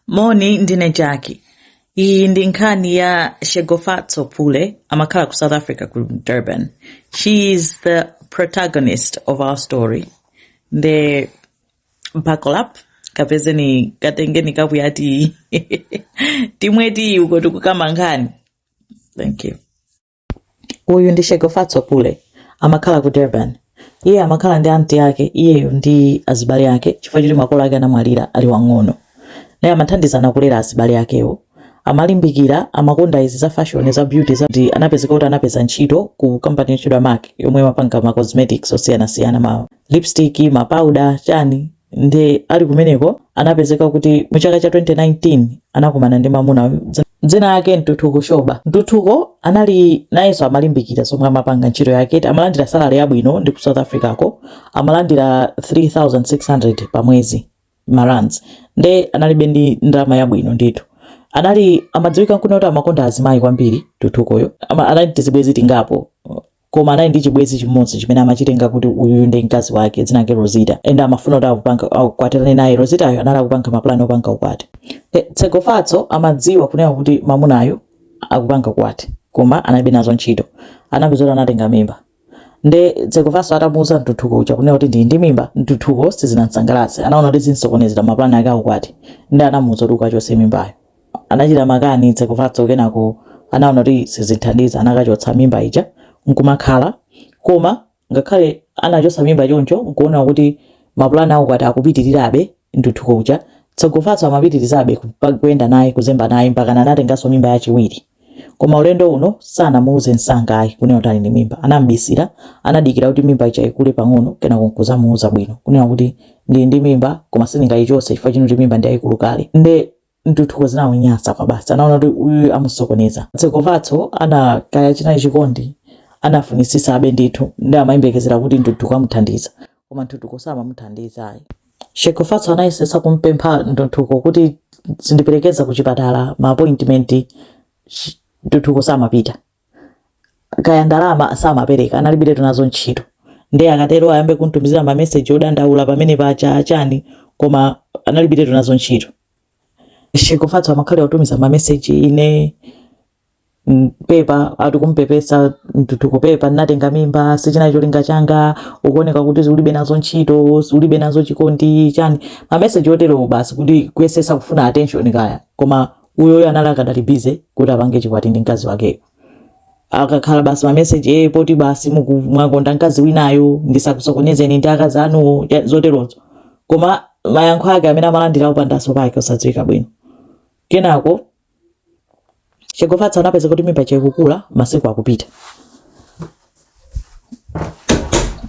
moni ndine jackie iyi ndi nkhani ya tshegofatso pule amakhala ku south africa ku durban she is the protagonist of our story nde buckle up kapezeni katengeni kapu ya tiyi timwe tiyi uko tikukamba nkhani thank you uyu ndi tshegofatso pule amakhala ku durban iye amakhala ndi anti ake iyeyo ndi azibale ake chifukwa choti makolo ake anamwalira ali wang'ono naye amathandizana kulera azibale akewo amalimbikira amakonda izi za fashion za beauty za ndi anapezeka kuti anapeza ntchito ku kampani yotchedwa mac yomwe imapanga ma cosmetics osiyanasiyana ma lipstick ma powder chani Nde ali kumeneko anapezeka kuti mu chaka cha 2019 anakumana ndi mamuna dzina lake Ntuthuko Shoba. Ntuthuko anali nayenso amalimbikira zomwe amapanga ntchito yake, amalandira salary yabwino ndi ku South Africa ko amalandira 3600 pa mwezi ma rands. Nde analibe ndi ndalama yabwino ndithu anali amadziwika kunena kuti amakonda azimayi kwambiri Ntuthukoyo. Anali tizibwezi tingapo koma anali ndi chibwezi chimodzi chimene amachitenga kuti uyuyu ndi mkazi wake dzina lake Rosita and amafuna kuti akupanga akwatirane naye Rositayo anali akupanga mapulani opanga ukwati e, Tshegofatso amadziwa kunena kuti mamunayo akupanga ukwati koma analibe nazo ntchito anapezeka kuti anatenga mimba nde Tshegofatso atamuuza ntuthuko uja kunena kuti ndili ndi mimba ntuthuko sizinamsangalatse anaona kuti zimsokonezera mapulani ake aukwati nde anamuuza kuti ukachotse mimbayo anachita makani tshegofatso kenako anaona kuti sizithandiza anakachotsa mimba ija nkumakhala koma ngakhale anachotsa mimba choncho nkuona kuti mapulani aukwati akupitirirabe ntuthuko uja tshegofatso amapitirizabe kuyenda naye kuzemba naye mpaka anatenganso mimba yachiwiri koma ulendo uno sanamuuze msanga ayi kunena kuti ali ndi mimba anam'bisira anadikira kuti mimba ija ikule pang'ono kenako nkuzamuuza bwino kunena kuti ndili ndi mimba koma sindingayichotse chifukwa choti mimba ndi yayikulu kale nde ntuthuko zinamunyasa kwabasi anaona kuti uyu amusokoneza tshegofatso anakaya chinali chikondi anafunitsitsabe ndithu ndi amayembekezera kuti ntuthuko amuthandiza koma Ntuthuko samamuthandiza ayi. Tshegofatso anayesetsa kumpempha Ntuthuko kuti uzindiperekeza kuchipatala ma appointment Ntuthuko samapita. Kaya ndalama samapereka, analibiretu nazo ntchito. Ndiye akatero ayambe kumtumizira ma message odandaula pamene paja chani koma analibiretu nazo ntchito. Tshegofatso amakhalira kutumiza ma message ine mm, pepa ati kumpepesa Ntuthuko pepa ndinatenga mimba sichina cholinga changa ukuoneka kuti ulibe nazo ntchito ulibe nazo chikondi chani mameseji oterowo basi kuti kuyesesa kufuna attention kaya koma uyuyo anali akadali bize kuti apange chikwati ndi mkazi wakeyo akakhala basi mameseji e eh, poti basi mwakonda mkazi winayo ndisakusokonezeni ndi akazi anuwo zoterozo koma mayankho ake amene amalandira upandaso pake osadziwika bwino kenako Tshegofatso anapeza kuti mimba ikukula masiku akupita.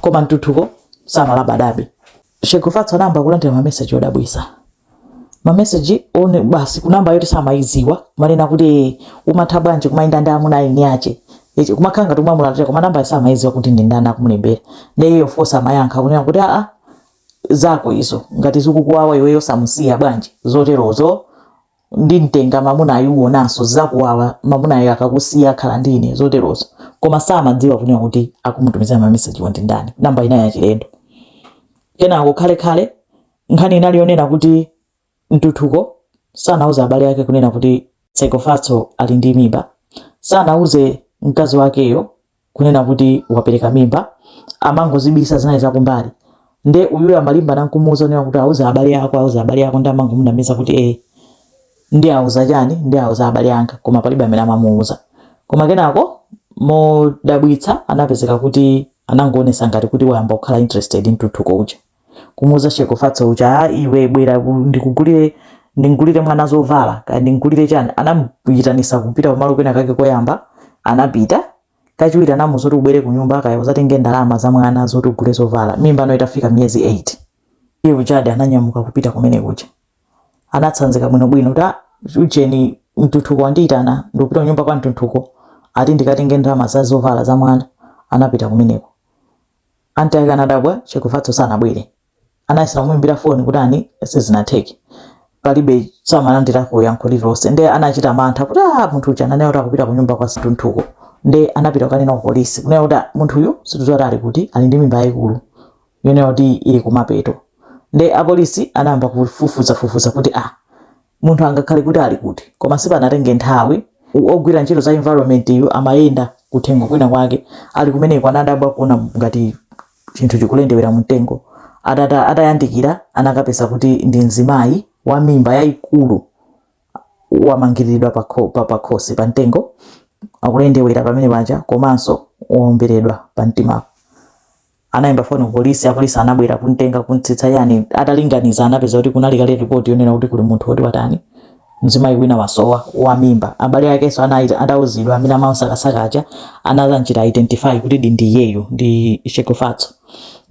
Koma Ntuthuko samalabadabe. Tshegofatso anayamba kulandira mameseji odabwisa. Mameseji one basi kunamba yoti samayiziwa amanena kuti eh, umatha bwanji kumayenda ndi amuna a eni ache. Kumakhala ngati umamulalatira koma namba samayiziwa kuti ndi ndani akumulembera. Ndiye iyo fosi amayankha kunena kuti a a zako izo ngati zikukuwawa iweyo samusiya bwanji zoterozo ndimtenga mamunayu uwonanso zizakuwawa mamunayo akakusiya akhala ndi ine zoterozo koma samadziwa kunena kuti akumutumizira mamesejiwo ndi ndani namba ina yachilendo kenako khale khale nkhani inali yonena kuti Ntuthuko sanauze abale ake kunena kuti Tshegofatso ali ndi mimba sanauze mkazi wakeyo kunena kuti wapereka mimba amangozibisa zinali zakumbali nde uyuyo amalimba nankumuuza kunena kuti uwauze abale ako uwauze abale ako ndi amangomunamiza kuti ee eh, ndiwauza chani ndiwauza abale anga koma palibe amene amamuuza koma kenako modabwitsa anapezeka kuti anangoonesa ngati kuti wayamba kukhala interested Ntuthuko uja kumuuza Tshegofatso uja "Ah, iwe bwera ku- ndikugulire ndimgulire mwana zovala kaya ndimgulire chani anamuyitanisa kupita pamalo kwina kake koyamba anapita kachiwiri anamuuza kuti ubwere ku nyumba kaya uzatenge ndalama za mwana zoti ugule zovala mimba ano itafika miyezi 8 iye ujadi ananyamuka kupita kumene kuja anatsanzika bwinobwino kuti "Ah, ujeni Ntuthuko wandiyitana ndikupita kunyumba kwa Ntuthuko ati ndikatenge ndalama za zovala za mwana anapita kumeneko Aunt ake anadabwa Tshegofatso sanabwere. Anayesera kumuimbira foni kuti chani sizinatheke. Palibe samalandirako yankho lililonse nde anachita mantha kuti ah munthu uja ananena kuti akupita kunyumba kwa Ntuthuko. Nde anapita kukanena ku polisi kunena kuti ah, munthuyu sitikudziwa kuti ali kuti ali ndi mimba yayikulu yonena kuti ili kumapeto. Nde apolisi anayamba kufufuzafufuza kuti ah, munthu angakhale kuti ali kuti koma sipanatenge nthawi u- ogwira ntchito za environment yu amayenda kuthengo kwina kwake ali kumeneko anadabwa kuona ngati chinthu chikulendewera mu mtengo atata atayandikira anakapeza kuti ndi mzimayi wa mimba yayikulu wamangiriridwa pa kho- pa- pa khosi pa mtengo akulendewera pamene paja komanso womberedwa pa mtimapo Anaimbira foni ku polisi, apolisi anabwera kumtenga kumtsitsa eya ndiye atalinganiza anapeza kuti kunali kale report yonena kuti kuli munthu woti watani mzimayi wina wasowa wa mimba abale akenso atauzidwa amene amamsakasaka aja anazanchita identify kutidi ndi iyeyo ndi Tshegofatso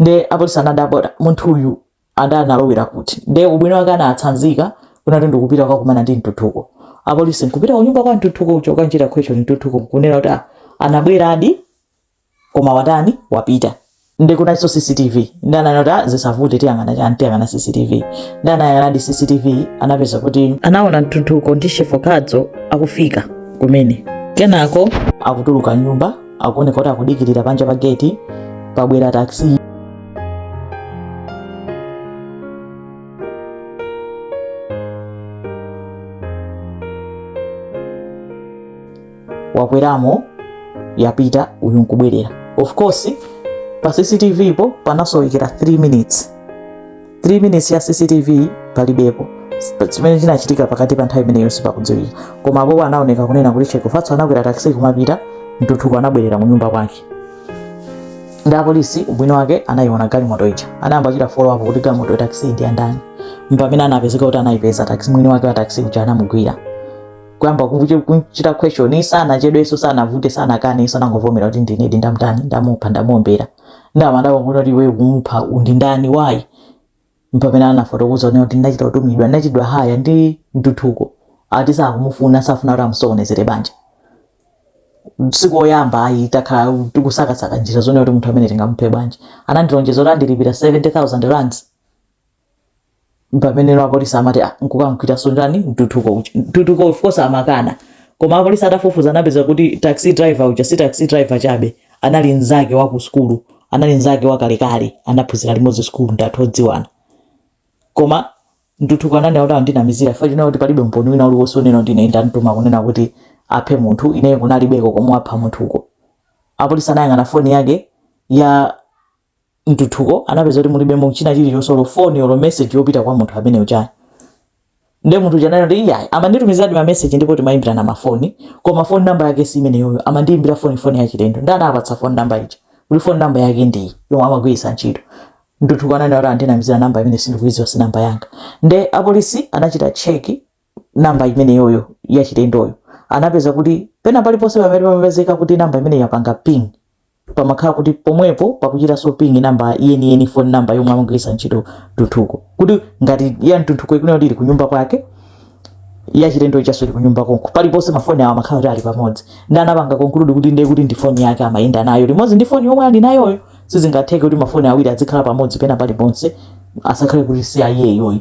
nde apolisi anadabwa kuti munthu uyu analowera kuti nde ubwino wake anatsanzika kunena kuti ndikupita kukakumana ndi Ntuthuko apolisi nkupita kunyumba kwa Ntuthuko uja kukanchita question Ntuthuko kunena kuti ah, anabweradi koma watani wapita nde kunalinso cctv nde anaona kuti ah, zisavute tiyang'ana chani tiyang'ana cctv nde anayang'anadi cctv anapeza kuti anaona Ntuthuko ndi Tshegofatso akufika kumene kenako akutuluka mnyumba akuoneka kuti akudikirira panja pa geti pabwera taxi wakweramo yapita uyu nkubwerera of course pa cctv-po panasowekera 3 minutes 3 minutes ya cctv palibepo chimene chinachitika pakati pa nthawi imeneyo sipakudziwika koma apopo anaoneka kunena kuti Tshegofatso anakwera taxi kumapita Ntuthuko anabwerera mnyumba mwake nde apolisi ubwino wake anayiona galimoto ija anayamba kuchita follow up kuti galimoto ya taxi ndi yandani mpamene anapezeka kuti anayipeza taxi mwini wake wa taxi uja anamugwira kuyamba kuche- kuchita question sanachedwenso sanavutenso sanakane anangovomera kuti ndinedi ndamtani ndamupha ndamuombera nde amadabwa kuti iwe kumupha ndiwe ndani why mpamene anafotokoza kunena kuti ndinachita kutumidwa ndinachitidwa hire ndi Ntuthuko ati sakumufuna safuna kuti amusokonezere banja si koyamba ayi takhala tikusakasaka njira zonena kuti munthu ameneyu tingamuphe bwanji anandilonjeza kuti andilipira 70000 rands mpameneno apolisi amati "Ah, nkukamgwiranso ndani Ntuthuko uja Ntuthuko of course amakana koma apolisi atafufuza anapeza kuti taxi driver uja si taxi driver chabe anali mnzake wa ku sukulu anali mnzake wakalekale anaphunzira limodzi sukulu ndi anthu odziwana koma Ntuthuko ananena kuti akundinamizira chifukwa chonena kuti palibe umboni wina uliwonse wonena kuti ine ndamtuma kunena kuti aphe munthu ineyo kunalibeko komwe apha munthuko apolisi anayang'ana foni yake ya Ntuthuko anapeza kuti mulibemo china chilichonse olo foni olo message yopita kwa munthu amene uja ayi nde munthu uja anati iyayi amanditumiziradi ma message ndipo timayimbirana mafoni koma phone number yake si imeneyoyo amandiyimbira foni pa foni yachilendo nde anawapatsa phone number ija kuti phone number yake ndiyi yomwe amagwiritsa ntchito Ntuthuko ananena kuti akundinamizira namba imeneyi sindikuyidziwa si namba yanga nde apolisi anachita check namba imeneyoyo ya chilendoyo anapeza kuti pena paliponse pamene pamapezeka kuti namba imene yapanga ping pamakhala kuti pomwepo pakuchitanso ping namba yeniyeni phone namba yomwe amagwiritsa ntchito ntuthuko kuti ngati ya ntuthuko ikunena kuti ili kunyumba kwake ya chilendo ijanso ili kunyumba konko paliponse mafoni awo amakhala kuti ali pamodzi nde anapanga conclude kuti ndiye kuti ndi foni yake amayenda nayo limodzi ndi foni yomwe ali nayoyo sizingatheke kuti mafoni awiri adzikhala pamodzi pena paliponse asakhale kuti si iyeyoyo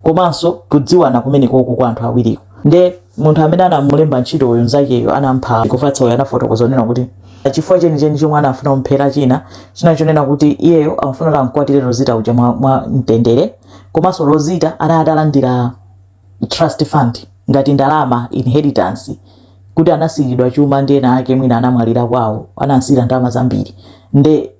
komanso kudziwana kumenekoko kwa anthu awiriko nde munthu amene anamulemba ntchito uyu mzakeyo anampha tshegofatso uyu anafotokoza kunena kuti chifukwa chenicheni chomwe anafuna kumphera china china chonena kuti iyeyo amafuna kuti amkwatire rozita uja mwa, mwa mtendere komanso rozita anali atalandira trust fund ngati ndalama inheritance kuti anasiyiridwa chuma ndi ena ake mwina anamwalira kwawo anasiyira ndalama zambiri nde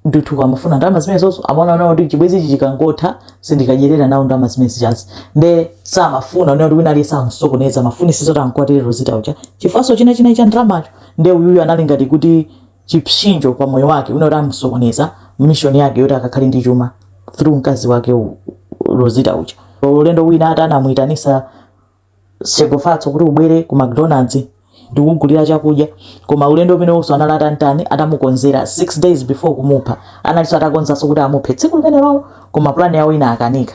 ntuthuko amafuna ndalama zimenezonso amaonano kuti chibwezi ichi chikangotha sindikadyerera nawo ndalama zimene zijazi nde samafuna kunena kuti wina aliyense amsokoneze amafunisitsa kuti ankwatire rozita uja chifukwanso china china cha ndalamacho nde uyuyu anali ngati kuti chipsinjo pa moyo wake wina kuti amsokoneza mishoni yake yoti akakhale ndi chuma through mkazi wake u- u- rozita uja ulendo wina ati anamuyitanisa tshegofatso kuti ubwere ku mcdonalds ndikugulira chakudya koma ulendo umenewonso anali atantani atamukonzera 6 days before kumupha analinso atakonzanso kuti amuphe tsiku limenelolo koma plan yawo inakanika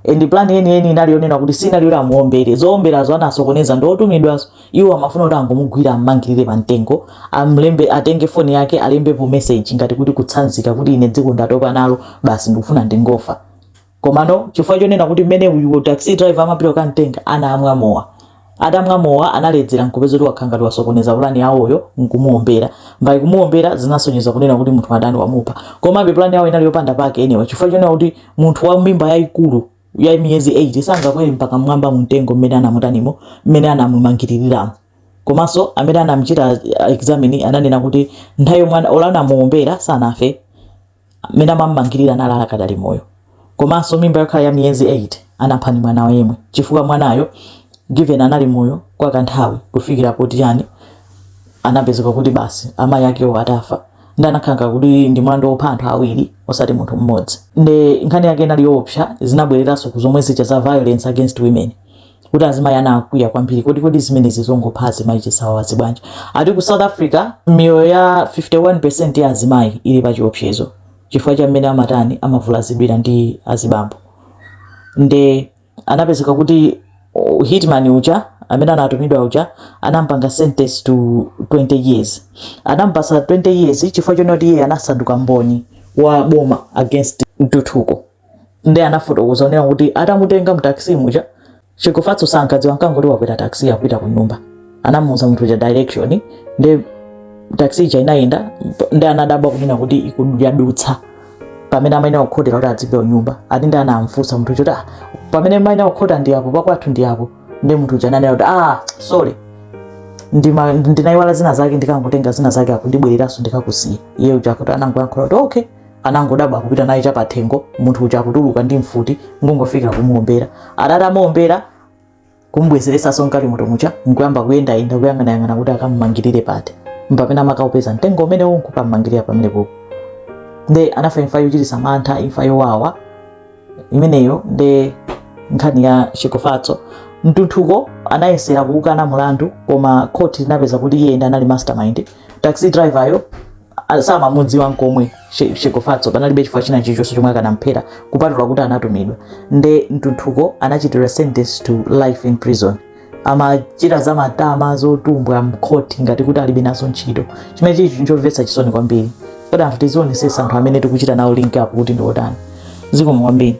and plan yeni yeni inali yonena kuti sinali yoti amuombere zoomberazo anasokoneza ndi otumidwawo iwo amafuna kuti angomugwira ammangirire pa mtengo amlembe atenge foni yake alembepo message ngati kuti kutsanzika kuti ine dziko ndatopa nalo basi ndikufuna ndingofa komano chifukwa chonena kuti mmene uyu taxi driver amapita kukamtenga anamwa mowa atamwa mowa analedzera nkupeza kuti wakhala ngati wasokoneza pulani yawoyo nkumuombera by kumuombera zinasonyeza kunena kuti munthu watani wamupha komabe pulani yawo inali yopanda pake anyway chifukwa chonena kuti munthu wa mimba yayikulu ya miyezi 8 sangakwere mpaka mmwamba mumtengo mmene anamutanimo mmene anamumangiririramo komanso amene anamchita uh, examine ananena kuti nthawi yomwe ana- olo anamuombera sanafe mmene amam'mangirira anali akadali moyo komanso mimba yokhala ya miyezi 8 anapha ndi mwanayo yemwe chifukwa mwanayo given anali moyo kwa kanthawi kufikira poti chani anapezeka kuti basi amayi akewo atafa nde anakhala ngati kuti ndi mlandu wopha anthu awiri osati munthu mmodzi nde nkhani yake inali yoopsa zinabwereranso ku zomwe zija za violence against women kuti azimayi anakwiya kwambiri kodi kodi zimenezi zongopha azimayi chisawawazi bwanji ati ku south africa miyoyo ya 51% ya azimayi ili pa chiopsezo chifukwa cha mmene amatani amavulazidwira ndi azibambo nde anapezeka kuti oh, hitman uja amene anatumidwa uja anampanga sentence to 20 years anampasa 20 years chifukwa chonoti iye anasanduka mboni wa boma against ntuthuko ndi anafotokoza kunena kuti atamutenga mtaxi muja Tshegofatso sankadziwa ankangoti wakwera taxi yopita ku nyumba anamuuza munthu uja direction ndi taxi ija inayenda ndi anadabwa kunena kuti ikudutsa pamene amayenera kukhotera kuti adzipita ku nyumba ati ndi anamfunsa munthu uja kuti "Ah, pamene amayenera kukhota ndi apo pakwathu ndi apo ndi munthu uja ananena kuti ah sorry ndima- ndinayiwala zina zake ndikangotenga zina zake ako ndibwereranso ndikakusiye iye uja akuti anangoyankhula kuti okay anangodabwa kupita naye chapathengo munthu uja nkutuluka ndi mfuti nkungofika kumuombera atamuombera nkumubwezeretsanso mgalimoto muja nkuyamba kuyendayenda kuyang'anayang'ana kuti akamumangirire pati mpamene amakaupeza mtengo umene unkukamumangirira pamene popo nde anafa imfa yochititsa mantha imfa yowawa imeneyo nde nkhani ya Tshegofatso Ntuthuko anayesera kukana mulandu koma khoti linapeza kuti iye ndi amene anali mastermind taxi driver yo a- samamudziwa nkomwe Tshe- Tshegofatso panalibe chifukwa china chilichonse chomwe akanamphera kupatula kuti anatumidwa nde Ntuthuko anachitidwa sentence to life in prison amachita za matama zotumbwa mkhoti ngati kuti alibe nazo ntchito chimene chili chinthu chomvetsa chisoni kwambiri koma anthu tizionetsetsa anthu amene tikuchita nawo link up kuti ndi otani zikomo kwambiri